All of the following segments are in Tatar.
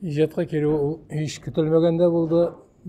Иҗатка керү ул һич көтелмәгәндә булды.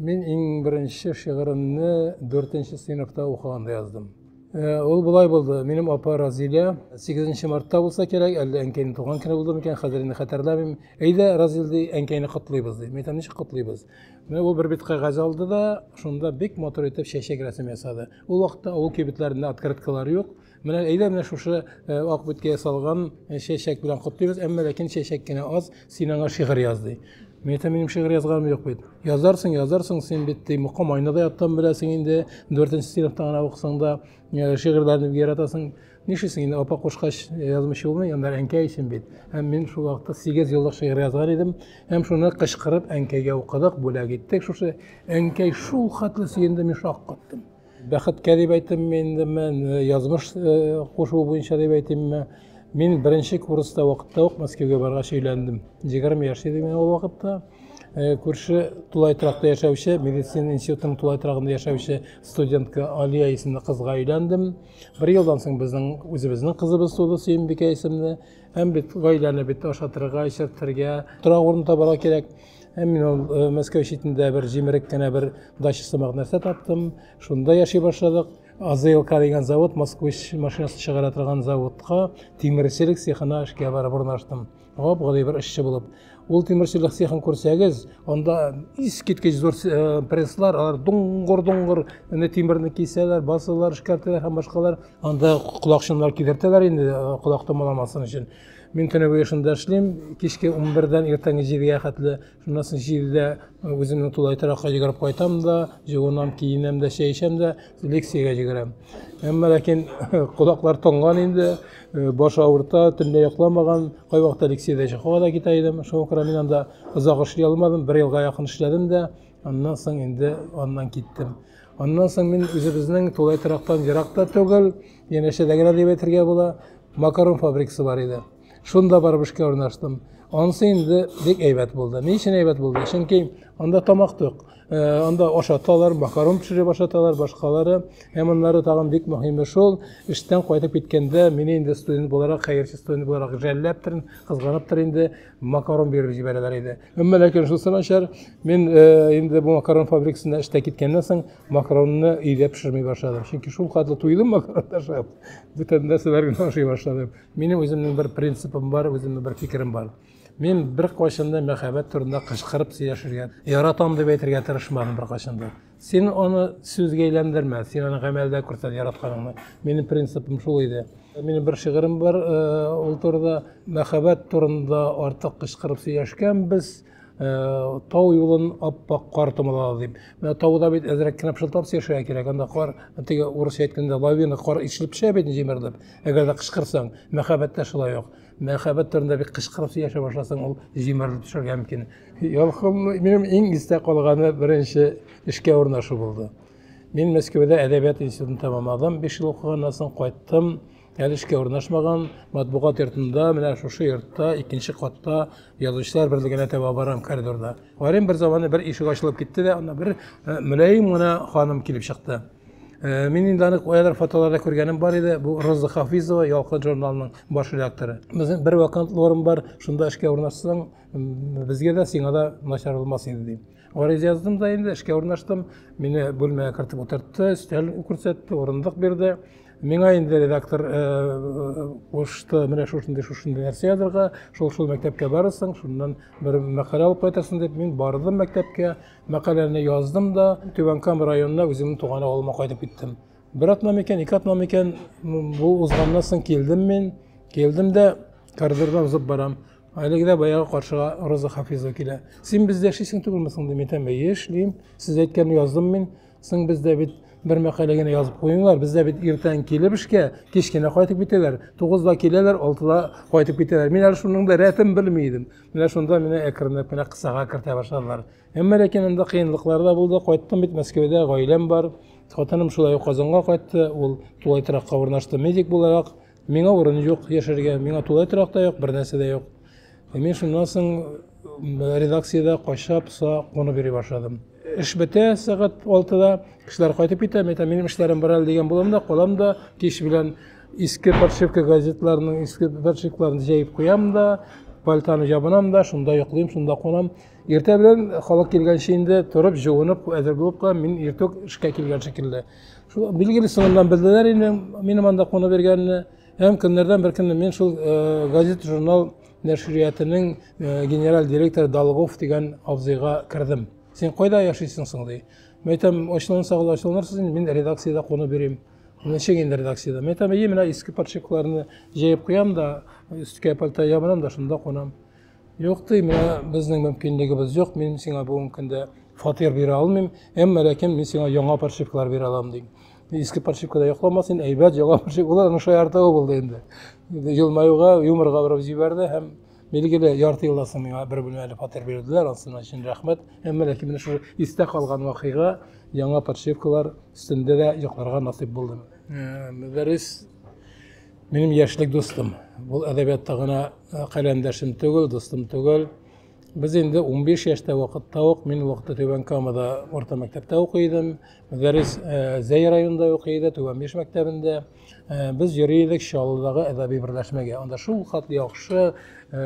Мин иң беренче шигыремне 4 нче сыйныфта укыганда яздым. Э, ул болай булды. Минем апа Разилә 8 мартта булса кирәк, әллә әнкәйнең туган көне булды микән, хәзер инде хәтерләмим. Әйдә, Разил ди, әнкәйне котлыйбыз ди. Мин ничек котлыйбыз? Менә ул бер бит кәгазь алды да, шунда бик матур итеп чәчәк рәсем ясады. Ул вакытта авыл кибетләрендә открыткалар юк. Менә әйдә менә шушы э, ак биткә ясалган э, чәчәк белән котлыйбыз, әмма ләкин чәчәк кенә аз, син аңа шигырь яз ди. Мин әйтәм, минем шигырь язганым юк бит. Язарсың, язарсың, син бит ди, мөкам айнада яттан беләсең инде, дүртенче сыйныфта гына укысаң да э, шигырьләрне бик яратасың. Нишлисең инде, апа кушкач язмыйча булмый, анда әнкәй өчен бит. Һәм мин шул вакытта сигез еллык шигырь язган идем, һәм шуны кычкырып әнкәйгә укыдык, бүләк иттек. Шушы әнкәй шул хәтле сөенде, мин шаккаттым. Бәхеткә дип әйтимме инде мен, язмыш кушуы буенча дип әйтимме, мин беренче курста вакытта ук Мәскәүгә баргач өйләндем. 20 яшь идем мин ул вакытта. Күрше тулай торакта яшәүче, медицина институтының тулай торагында яшәүче студентка Алия исемле кызга өйләндем. Бер елдан соң безнең үзебезнең кызыбыз туды, Сөембикә исемле. Һәм бит гаиләне бит ашатырга, эчертергә, тора урын табарга кирәк. Һәм мин ул э, Мәскәү читендә бер җимерек кенә бер дача сымак нәрсә таптым. Шунда яши башладык. АЗЛК дигән завод, Москвич машинасы чыгара торган заводка тимерчелек цехына эшкә барып урнаштым. Гап гади бер эшче булып. Ул тимерчелек цехын күрсәгез, анда искиткеч зур э, пресслар, алар дуңгыр-дуңгыр, тимерне кисәләр, басалар, эшкәртәләр һәм башкалар. Анда колакчыннар кидертәләр инде колак томаламасын өчен. Мин көне буе шунда эшлим, кичке 11-дән иртәнге 7-гә хәтле. Шуннан соң 7-дә үземнең тулай торакка йөгереп кайтам да, җыгынам, киенәм дә, чәй эчәм дә, лекциягә йөгерәм. Әмма ләкин колаклар тонган инде, баш авырта, төнлә йокламаган, кайвакытта лекциядә чыгуга да китә идем. Шуңа күрә мин анда озак эшли алмадым, бер елга якын эшләдем дә, аннан соң инде аннан киттем. Аннан соң мин үзебезнең тулай торактан ерак та түгел, янәшәдә генә дип әйтергә була, макарон фабрикасы бар иде. Шунда барып эшкә урнаштым. Ансы инде бик әйбәт булды. Ни өчен әйбәт булды? Чөнки анда тамак тук. Э, анда ашаталар, макарон пешереп ашаталар, башкалары. Һәм аннары тагын бик мөһиме шул, эштән кайтып киткәндә, мине инде студент буларак, хәерче студент буларак жәлләптер, кызганыптыр инде, макарон биреп җибәрәләр иде әмма ләкин шусы начар мин э, инде бу макарон фабрикасында эштә киткәннән соң макаронны өйдә пешерми башладым чөнки шул катлы туйдым макарон ашап бүтән нәрсәләр генә ашый башладым минем үземнең бер принципым бар үземнең бер фикерем бар мин бер кайчанда мәхәббәт турында кычкырып сөйләшергә яратам дип әйтергә тырышмадым бер кайчанда Син аны сүзгә әйләндермә, син аны гамәлдә күрсәт яратканыңны. Минем принципым шул иде. Минем бер шигырем бар, э, ул турыда мәхәббәт турында артык кычкырып сөйләшкәнбез, э, тау юлын аппак кар томалады дип. Менә тауда бит әзрәк кенә пышылтап сөйләшергә кирәк, анда кар, теге урысча әйткәндә, лавина кар ишелеп төшә бит җимерелеп, әгәр дә кычкырсаң. Мәхәббәттә шулай ук. Мәхәббәт турында бик кычкырып сөйләшә башласаң, ул җимерелеп төшәргә мөмкин. Ялкын минем иң истә калганы беренче эшкә урнашу булды. Мин Мәскәүдә әдәбият институтын тәмамладым, 5 ел укыганнан соң кайттым. Әле эшкә урнашмаган, матбугат йортында, менә шушы йортта, икенче катта язучылар берлегенә таба барам коридорда. Карыйм бер заманы бер ишек ачылып китте дә, анда бер мөлаем гына ханым килеп чыкты. Э, мин инде аны каядыр фотоларда күргәнем бар иде бу роза хафизова ялкын журналының баш редакторы безнең бер вакантлы орын бар шунда эшкә урнашсаң безгә дә сиңа да начар булмас иде дим гариза яздым да инде эшкә урнаштым мине бүлмәгә кертеп утыртты өстәл күрсәтте урындык бирде миңа инде редактор э, э, кушты менә шушындый шушындый нәрсә язырга шул шул мәктәпкә барырсың шуннан бер мәкалә алып кайтырсың дип мин бардым мәктәпкә Мәкаләне яздым да, Түбән Кама районына үземнең туган авылыма кайтып киттем. Бер атна микән, ике атна микән, бу узганнан соң килдем мин. Килдем дә, коридорда узып барам. Әлеге дә баягы каршыга Роза Хафизова килә. Син бездә эшлисең түгелме соң дим, әйтәм, әйе эшлим. Сез әйткәнне яздым мин. Соң бездә бит бер мәкалә генә язып куйыңлар. Бездә бит иртән килеп эшкә, кич кенә кайтып китәләр. Тугызда киләләр, алтыда кайтып китәләр. Мин әле шуның да рәтен белми идем. Менә шунда менә әкренләп кенә кысага кертә башладылар. Әмма ләкин анда кыенлыклар да булды. Кайттым бит Мәскәүдә, гаиләм бар. Хатыным шулай ук Казанга кайтты. Ул тулай торакка урнашты медик буларак. Миңа урын юк яшәргә. Миңа тулай торак та юк, бернәрсә дә юк. Ә мин шуннан соң редакциядә кайшап, са кунып йөри башладым. Эш бетә сәгать 6-да, кешеләр кайтып китә, мин әйтәм, минем эшләрем бар әле дигән булам да, калам да кич белән Иске подшивка газетларының иске подшивкаларын җәеп куям да, пальтаны җабынам да, шунда йоклыйм, шунда кунам. Иртә белән халык килгәнче инде торып, җуынып, әзер булып калам, мин иртүк эшкә килгән шикелле. Шул билгеле соңыннан белделәр инде минем анда куна бергәнне. Һәм көннәрдән бер көнне мин шул э, газет журнал нәшриятының э, генераль директоры Долгов дигән абзыйга кердем. Син кайда яшисең соң ди. Мәйтәм, ачуланса гына ачуланырсыз, мин редакциядә куна берим. Ничек инде редакциядә? Мин там и менә иске подшипкаларны җәеп куям да, өсткә пальто ябынам да, шунда кунам. Юк ди, менә безнең мөмкинлегебез юк, мин сиңа бүгенге көндә фатир бирә алмыйм, әмма ләкин мин сиңа яңа подшипкалар бирә алам дим. Иске подшипкада йокламас инде, әйбәт яңа подшипкалар, аның шаяртуы булды инде. Елмаюга, юморга борып җибәрде һәм Билгеле, ярты елдан соң миңа бер бүлмәле фатир бирделәр, ансына өчен рәхмәт. Әмма ләкин менә шул истә калган вакыйга яңа подшивкалар өстендә дә йокларга насыйп булды. Э, Мөдәррис минем яшьлек дустым. Бу әдәбиятта гына э, каләмдәшем түгел, дустым түгел. Без инде 15 яшьтә вакытта ук, мин вакытта Түбән Камада орта мәктәптә укый идем. Мөдәррис э, Зәй районында укый иде, Түбән Биш мәктәбендә. Э, без йөри идек чаллыдагы әдәби берләшмәгә анда шул хат яхшы э,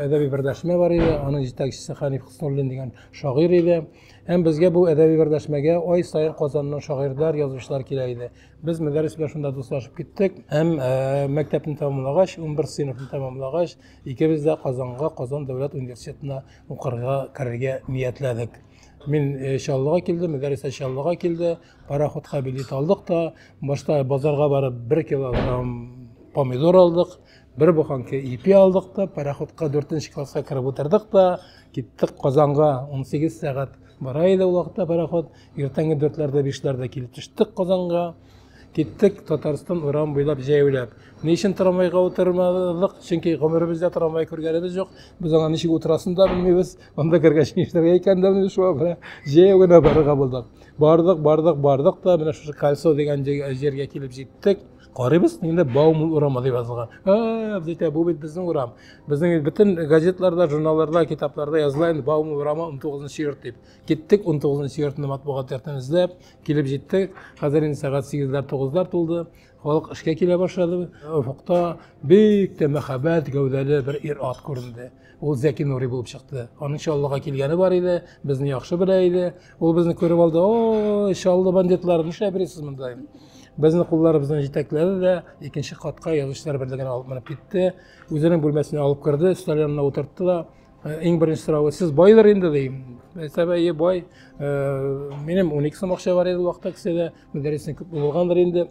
әдәби берләшмә бар иде аның җитәкчесе хәниф хөснуллин дигән шагыйрь иде һәм безгә бу әдәби берләшмәгә ай саен казаннан шагыйрьләр язучылар килә иде без мәдәрес белән шунда дуслашып киттек һәм э, мәктәпне тәмамлагач унбер сыйныфны тәмамлагач икебез дә казанга казан дәүләт университетына укырга керергә ниятләдек мин чаллыга килдем мәдәресә чаллыга килде Пароходка билет алдык та, башта базарга барып бер килограмм помидор алдык, бер буханка ипи алдык та, пароходка дүртенче класска кереп утырдык та, киттек Казанга 18 сәгать бара иде ул вакытта пароход. Иртәнге дүртләрдә бишләрдә килеп төштек Казанга. Киттек Татарстан урам буйлап җәяүләп. Ни өчен трамвайга утырмадык? Чөнки гомеребездә трамвай күргәнебез юк. Без аңа ничек утырасын да белмибез. Анда кергәч нишләргә икән дә менә шуңа күрә җәяү генә барырга булдык. Бардык, бардык, бардык та менә шушы Кальсо дигән җиргә килеп җиттек. Карыйбыз, инде Баумул урамы дип язылган. А, дитә, бу бит безнең урам. Безнең бөтен газетларда, журналларда, китапларда языла инде Баумул урамы 19 йорт дип. Киттек 19 йортны матбугат йортын эзләп, килеп җиттек. Хәзер инде сәгать 8-ләр, 9-лар тулды. Халык эшкә килә башлады. Офыкта бик тә мәһабәт гәүдәле бер ир-ат күренде. ул Зәки Нури булып чыкты. Аның Чаллыга килгәне бар иде, безне яхшы белә иде. Ул безне күреп алды, о, Чаллы бандитлары, нишләп йөрисез монда? Безне кулларыбыздан җитәкләде дә, икенче катка язучылар берлегенә алып менеп китте. Үзенең бүлмәсенә алып керде, өстәл янына утыртты да, «Э, иң беренче сорауы, сез байдыр инде, ди. Әсәбәе бай, э, минем 12 сум акча бар иде вакытта кесәдә, мөдәррисен күп булгандыр инде.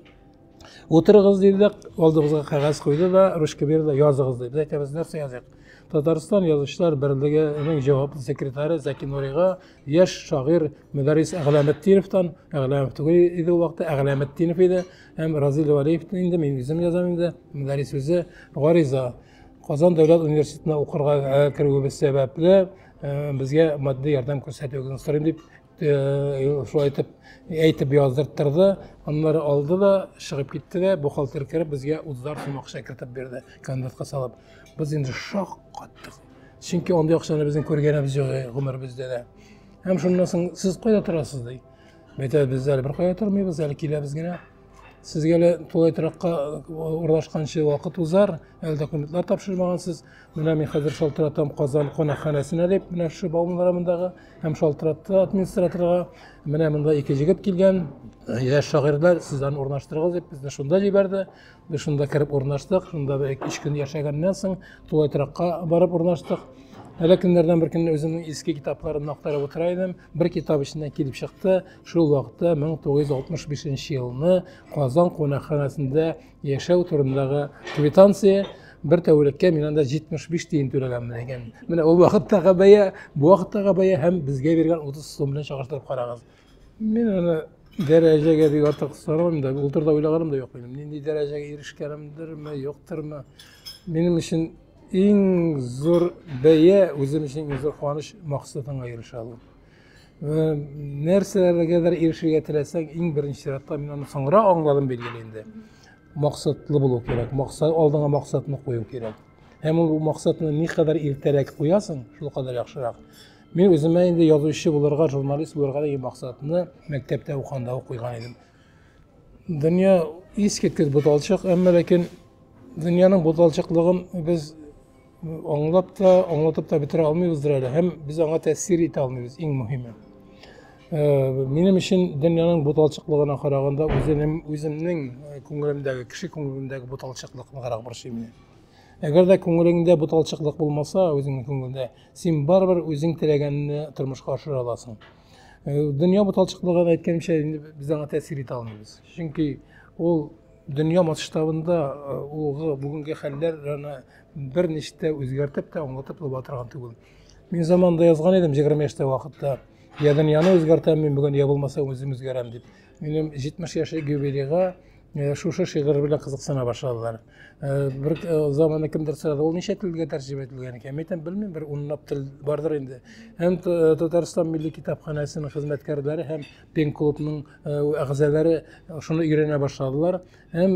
Утырыгыз диде дә, алдыгызга кәгазь куйды да, ручка бирде, языгыз диде. Әйтәбез, нәрсә языйк? Татарстан язучылар берлегенең җаваплы секретаре Заки Нурига яшь шагыйрь Мөдәррис Әгъләметдиновтан, Әгъләмов түгел иде ул вакытта, Әгъләметдинов иде, һәм Разил Валиевтан инде мин үзем язам инде, Мөдәррис үзе гариза. Казан дәүләт университетына укырга керүебез сәбәпле, безгә матди ярдәм күрсәтүегезне сорыйм дип шулай итеп әйтеп яздырттырды аннары алды да чыгып китте дә бухгалтер кереп безгә утызар сум акча кертеп бирде конвертка салып без инде шок каттык чөнки андый акчаны безнең күргәнебез юк гомеребездә дә һәм шуннан соң сез кайда торасыз ди әйтәбез без әле беркая тормыйбыз әле киләбез генә Сезгә лә тулай торакка урнашканчы вакыт узар, әле документлар тапшырмагансыз. Менә мин хәзер шалтыратам Казан кунакханәсенә дип, менә шушы Бауман районындагы һәм шалтыратты администраторга. Менә монда ике җегет килгән, яшь шагыйрьләр сез аны урнаштырыгыз дип безне шунда җибәрде. Без шунда кереп урнаштык, шунда бер ике көн яшәгәннән соң тулай торакка барып урнаштык. Әле көннәрдән бер көнне үземнең иске китапларымны актарып утыра идем. Бер китап эченнән килеп чыкты. Шул вакытта 1965 елны Казан кунакханәсендә яшәү турындагы квитанция бер тәүлеккә мин анда 75 тиен түләгәнмен икән. Менә ул вакыттагы бәя, бу вакыттагы бәя һәм безгә биргән 30 сум белән чагыштырып карагыз. Мин аны дәрәҗәгә бик артык сорамыйм да, ул турыда уйлаганым да юк минем. Нинди дәрәҗәгә ирешкәнемдерме, юктырмы? Минем өчен иң зур бәя, үзем өчен иң зур куаныч максатыңа ирешә алу. Вә нәрсәләргәдер ирешергә теләсәң, иң беренче чиратта мин аны соңра аңладым билгеле инде. Максатлы булу кирәк. Максат алдыңа максатны кую кирәк. Һәм ул максатны ни кадәр иртәрәк куясың, шул кадәр яхшырак. Мин үземә инде язучы булырга, журналист булырга дигән максатны мәктәптә укганда ук куйган идем. Дөнья искиткеч буталчык, әмма ләкин дөньяның буталчыклыгын без Аңлап та, аңлатып та бетерә алмыйбыздыр әле һәм без аңа тәэсир итә алмыйбыз, иң мөһиме. Э, минем өчен дөньяның буталчыклыгына караганда үзенем үземнең э, күңелемдәге, кеше күңелендәге буталчыклык ныграк борчый мине. Әгәр дә күңелеңдә буталчыклык булмаса, үзеңнең күңелдә, син барыбер үзең теләгәнне тормышка ашыра аласың. Э, дөнья буталчыклыгын әйткәнчә инде без аңа тәэсир итә алмыйбыз. Чөнки ул дөнья масштабында ул бүгенге хәлләр бер ништә үзгәртеп тә аңлатып була торган түгел мин заманда язган идем егерме яшьтә вакытта я дөньяны үзгәртәм мин бүген я булмаса үзем үзгәрәм дип минем җитмеш яшьлек юбилейга э, шушы шигырь белән кызыксына башладылар э, бер э, заманы кемдер сорады ул ничә телгә тәрҗемә ителгән икән мин әйтәм белмим бер унлап тел бардыр инде һәм татарстан милли китапханәсенең хезмәткәрләре һәм пен клубның әгъзалары шуны өйрәнә башладылар Һәм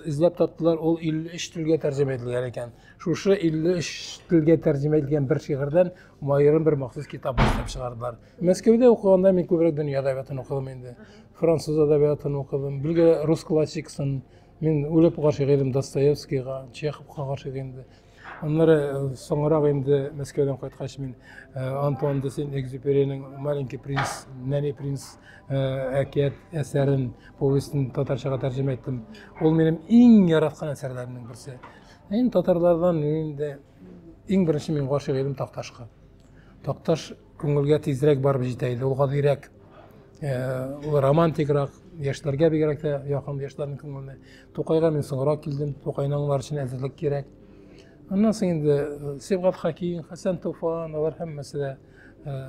эзләп таптылар, ул 53 телгә тәрҗемә ителгән икән. Шушы 53 телгә тәрҗемә ителгән бер шигырьдән аерым бер махсус китап башлап чыгардылар. Мәскәүдә укыганда мин күбрәк дөнья әдәбиятын укыдым инде. Француз әдәбиятын укыдым, билгеле рус классикасын. Мин үлеп гашыйк идем Достоевскийга, Чеховка гашыйк инде. Аннары э, соңрак инде Мәскәүдән кайткач мин э, Антуан де Сен-Экзюперинең Маленький принц, Нәни принц э, әкият әсәрен, повестен татарчага тәрҗемә иттем. Ул минем иң яраткан әсәрләремнең берсе. Мин татарлардан инде иң беренче мин гашыйк идем Такташка. Такташ күңелгә тизрәк барып җитә иде. Ул гадирәк, ул романтикрак, яшьләргә бигрәк тә якын яшьләрнең күңеленә. Тукайга мин соңрак килдем, Тукайның алар өчен әзерлек кирәк. Аннан соң инде Сибгат Хакин, Хәсән Туфан, алар һәммәсе дә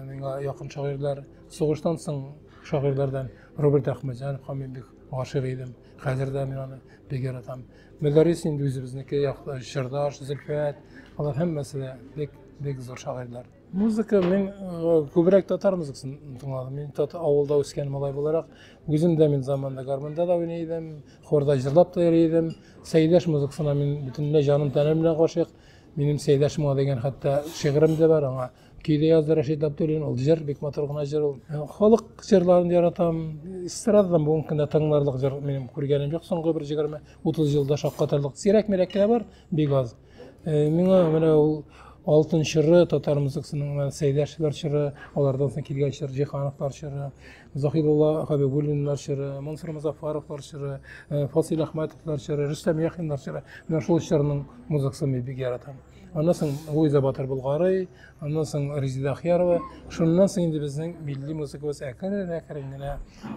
миңа якын шагыйрьләр. Сугыштан соң шагыйрьләрдән Роберт Әхмәтҗанов, Хамидбек гашыйк идем. Хәзер дә мин аны бик яратам. Мөдәррис инде үзебезнеке якты, Чырдаш, Зөлфәт, алар һәммәсе дә бик бик зур шагыйрьләр. Музыка мин э, күбрәк татар музыкасын тыңладым. Мин тат авылда үскән малай буларак, үзем дә мин заманда гармонда да уйный идем, хорда җырлап та йөри идем. Сәйдәш музыкасына мин бөтенләй җаным тәнем белән гашыйк. Минем Сәйдәшмә дигән хәтта шигырем дә бар аңа. көйле язды рәшит габдуллин ул җыр бик матур гына җыр ул э, халык җырларын яратам эстрададан бүгенге көндә тыңларлык җыр минем күргәнем юк соңгы бер егерме утыз елда шаккатырлык сирәк мирәк кенә бар бик аз э, миңа менә ул алтын чоры татар музыкасының сәйдәшевлар чоры алардан соң килгән чор җиһановлар чоры захидулла хабибуллиннар чоры мансур музафаровлар чоры э, фасил ахматовлар чоры рөстәм яхиннар чоры менә шул чорның музыкасын мин бик яратам аннан соң Луиза Батыр Болгарый, аннан соң Резида Ахьярова. Шуннан соң инде безнең милли музыкабыз әкрен-әкрен генә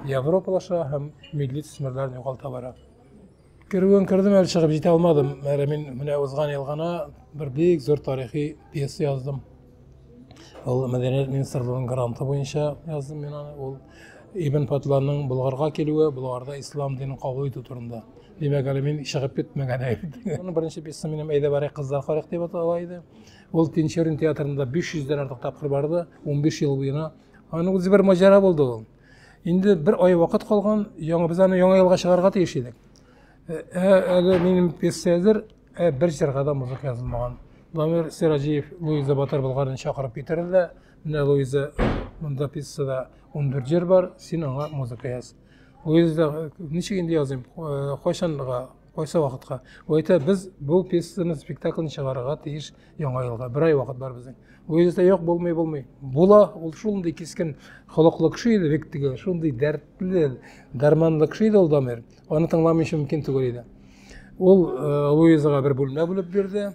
европалаша һәм милли төсмерләрен югалта бара. Керүен кердем, әле чыгып җитә алмадым. Әле мин менә узган ел гына бер бик зур тарихи пьеса яздым. Ул мәдәният министрлыгының гранты буенча яздым мин аны. Ул Ибн Патланың Болгарга килүе, Болгарда ислам динен кабул итү турында. Димәк, әле мин чыгып китмәгән идем. Аның беренче пьесасы минем Әйдә барыйк кызлар карыйк дип атала иде. Ул Тинчурин театрында 500 дән артык тапкыр барды, 15 ел буена. Аның үзе бер маҗара булды ул. Инде бер ай вакыт калган, яңа без аны яңа елга чыгарга тиеш идек. Э, э, әле минем пьесәдер э, бер җырга да музыка язылмаган дамир сираҗиев луиза батыр болгарны чакырып китерде дә менә луиза монда пьесада он дүрт җыр бар син аңа музыка яз луиза ничек инде языйм кайчанга кайсы вакытка ул әйтә без бу пьесаны спектакльне чыгарырга тиеш яңа елга бер ай вакыт бар безнең луиза юк булмый булмый була ул шундый кискен холыклы кеше иде бик теге шундый дәртле дәрманлы кеше иде ул дамир Аны тыңламыйча мөмкин түгел иде. Ул э, Луизага бер бүлмә бүлеп бирде.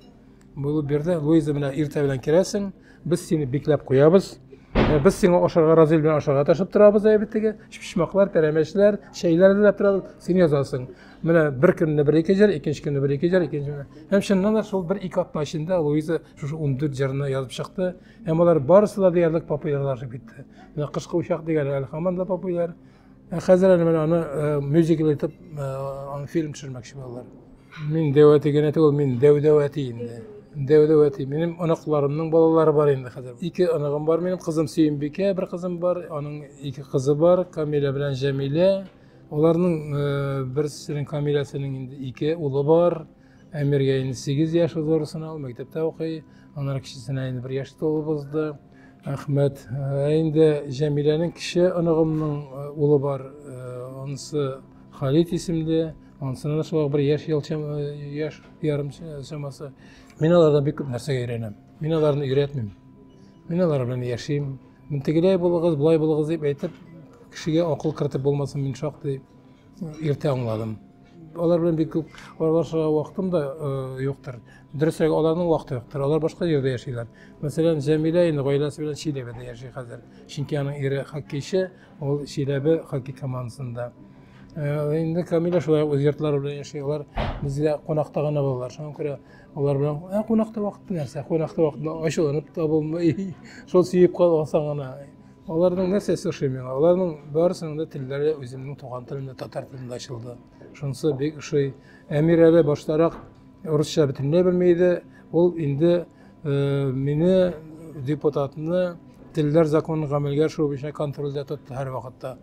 Бүлеп бирде. Луиза менә иртә белән керәсең. Без сине бикләп куябыз. Э, без сиңа ашарга разый белән ашарга ташып торабыз әйбәтеге. Чүчмаклар, пәрәмәчләр, чәйләр диләп торабыз. Син язасың. Менә бер көнне бер ике җыр, икенче көнне бер ике җыр, икенче көнне. Һәм чыннан да шул бер ике атна эчендә Луиза шушы 14 җырны язып чыкты. Һәм алар барысы да диярлек популярлашып китте. Менә кышкы учак дигән әле һаман да популяр. Ә хәзер әле менә аны э, мюзикл итеп э, аны фильм төшермәкче булалар. Мин дәү әти генә түгел, мин дәү-дәү әти инде. Дәү-дәү әти. Минем оныкларымның балалары бар инде хәзер. Ике оныгым бар минем, кызым Сөембикә, бер кызым бар, аның ике кызы бар, Камилә белән Җәмилә. Аларның э, берсенең Камиләсенең инде ике улы бар. Әмиргә инде 8 яшь узырсына, ул мәктәптә укый. Аннары кечесенә инде 1 яшь тулып узды. Әхмәт, ә инде Җәмиләнең кече оныгымның э, улы бар. Э, Анысы Халит исемле. Анысына да шулай бер яшь ел чам- э, яшь ярым ч- чамасы. Мин алардан бик күп нәрсәгә өйрәнәм. Мин аларны өйрәтмим. Мин алар белән яшим. Мин тегеләй булыгыз, болай булыгыз дип әйтеп, кешегә акыл кертеп булмасын, мин шактый иртә аңладым. алар белән бик күп аралашырга вакытым да юктыр. Дөресрәк, аларның вакыты юктыр. Алар башка җирдә яшиләр. Мәсәлән, Җәмилә инде гаиләсе белән Чиләбедә яши хәзер. Чөнки аның ире хоккейчы, ул Чиләбе хоккей командасында. Инде Камилә шулай үз йортлары белән яши. Алар безгә кунакта гына булалар. Шуңа күрә алар белән ә кунакта вакыт нәрсә? Кунакта вакытны ачуланып та булмый. Шул сөеп калсаң гына Аларның нәрсәсе ошый миңа? Аларның барысының да телләре үземнең туган телемдә татар телендә ачылды. Шунысы бик ошый. Әмир әле баштарак русча бөтенләй белми иде. Ул инде э, мине депутатны телләр законын гамәлгә ашыру буенча контрольдә тотты һәр вакытта.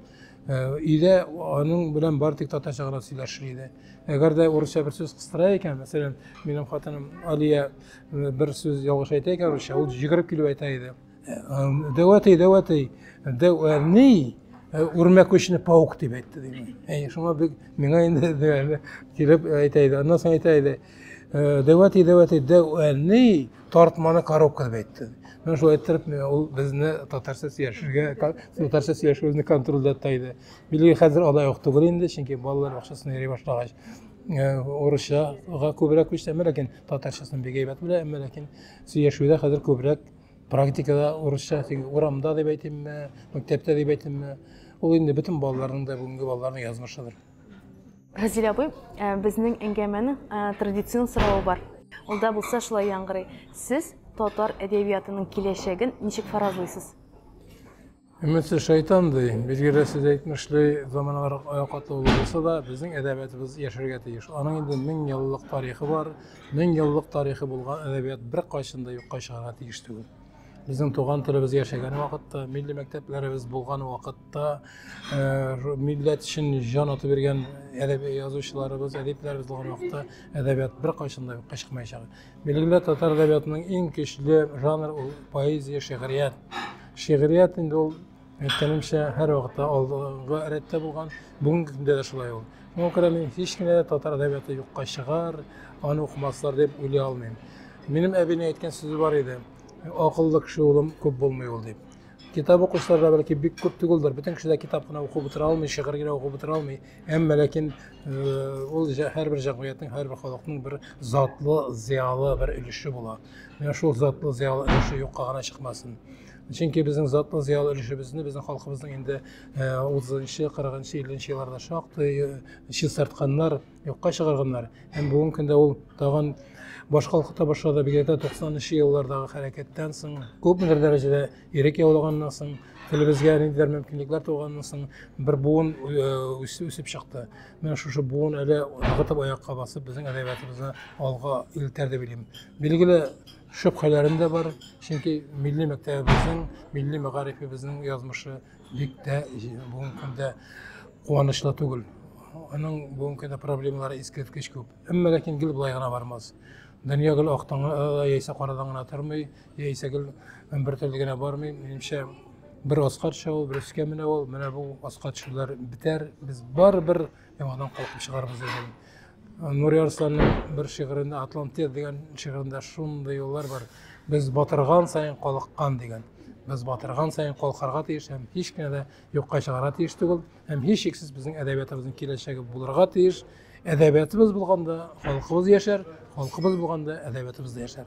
Э, өйдә аның белән бар тик татарча гына сөйләшер иде. Әгәр дә урысча бер сүз кыстыра икән, мәсәлән, минем хатыным Алия э, бер сүз ялгыш әйтә икән русча, ул җигереп килеп әйтә иде. Дәвәтей, дәвәтей, дәвәней, үрмәкүчне паук дип әйтте дигән. Әй, шуңа бик миңа инде дигәндә килеп әйтә иде. Аннан соң әйтә иде. Дәвәтей, дәвәтей, дәвәней, тартманы коробка дип әйтте. Мен шулай иттереп, ул безне татарча сөйләшергә, татарча сөйләшүебезне контрольдә тота иде. Билгеле хәзер алай ук түгел инде, чөнки балалар бакчасына йөри башлагач, урысчага күбрәк күчтәме, ләкин татарчасын бик әйбәт белә, әмма ләкин сөйләшүдә хәзер күбрәк практикада урысча урамда дип әйтимме мәктәптә дип әйтимме ул инде бөтен балаларның да бүгенге балаларның язмышыдыр разилә апай ә, безнең әңгәмәнең ә, традицион соравы бар ул да булса шулай яңгырый сез татар әдәбиятының киләчәген ничек фаразлыйсыз Өметле шайтан ди, билгеле сез әйтмешли, заманалар катлаулы булса да, безнең әдәбиятыбыз яшәргә тиеш. Аның инде мең еллык тарихы бар, мең еллык тарихы булган әдәбият бер кайчан да юкка чыгарга тиеш түгел. Безнең туган телебез яшәгән вакытта, милли мәктәпләребез булган вакытта, э, милләт өчен җан атып биргән әдәби язучыларыбыз, әдипләребез булган вакытта әдәбият бер кайчан да юкка чыкмаячак. Билгеле татар әдәбиятының иң көчле жанр ул поэзия, шигърият. Шигърият инде ул әйткәнемчә һәр вакытта алдыгы рәттә булган, бүгенге көндә дә шулай ул. Шуңа күрә мин һич кенә дә татар әдәбияты юкка чыгар, аны укымаслар дип уйлый алмыйм. Минем әбинең әйткән сүзе бар иде, акыллы кеше улым күп булмый ул дип. Китап укучылар да бәлки бик күп түгелдер, бөтен кеше дә китап кына укып утыра алмый, шигырь генә укып утыра алмый. Әмма ләкин ул һәрбер җәмгыятьнең, һәрбер халыкның бер затлы, зыялы бер өлеше була. Менә шул затлы, зыялы өлеше юкка гына чыкмасын. Чөнки безнең затлы, зыялы өлешебезне безнең халкыбызның инде 30-нчы, 40-нчы, 50-нче елларда шактый чистартканнар, юкка чыгарганнар. Һәм бүгенге көндә ул тагын башкалкыта башлады, бигрәк тә 90-нчы еллардагы хәрәкәттән соң күпмедер дәрәҗәдә Ирек яулаганнан соң, телебезгә ниндидер мөмкинлекләр туганнан соң, бер буын үсеп, үсеп чыкты. Менә шушы буын әле ныгытып аякка басып, безнең әдәбиятыбызны алга илтәр дип уйлыйм. Билгеле, шөбһәләрем дә бар, чөнки милли мәктәбебезнең, милли мәгарифебезнең язмышы бик тә бүгенге көндә куанычлы түгел. Аның бүгенге көндә проблемалары искиткеч күп. Әмма ләкин гел болай гына бармас. Дөнья гел актан яисә карадан гына тормый, Яисә гел бер төрле генә бармый, минемчә бер аска төшә ул, бер өскә менә ул, менә бу аска төшүләр бетәр, без барыбер яңадан калкып чыгарбыз дигән. Нури Арсланның бер шигырендә Атлантия дигән шигырендә шундый юллар бар. Без батырган саен калыккан дигән. Без батырган саен калкарга тиеш һәм һич кенә дә юкка чыгарга тиеш түгел. Һәм һичшиксез безнең әдәбиятыбызның киләчәге булырга тиеш. Әдәбиятыбыз булганда халкыбыз яшәр, халкыбыз булганда әдәбиятыбыз да яшәр.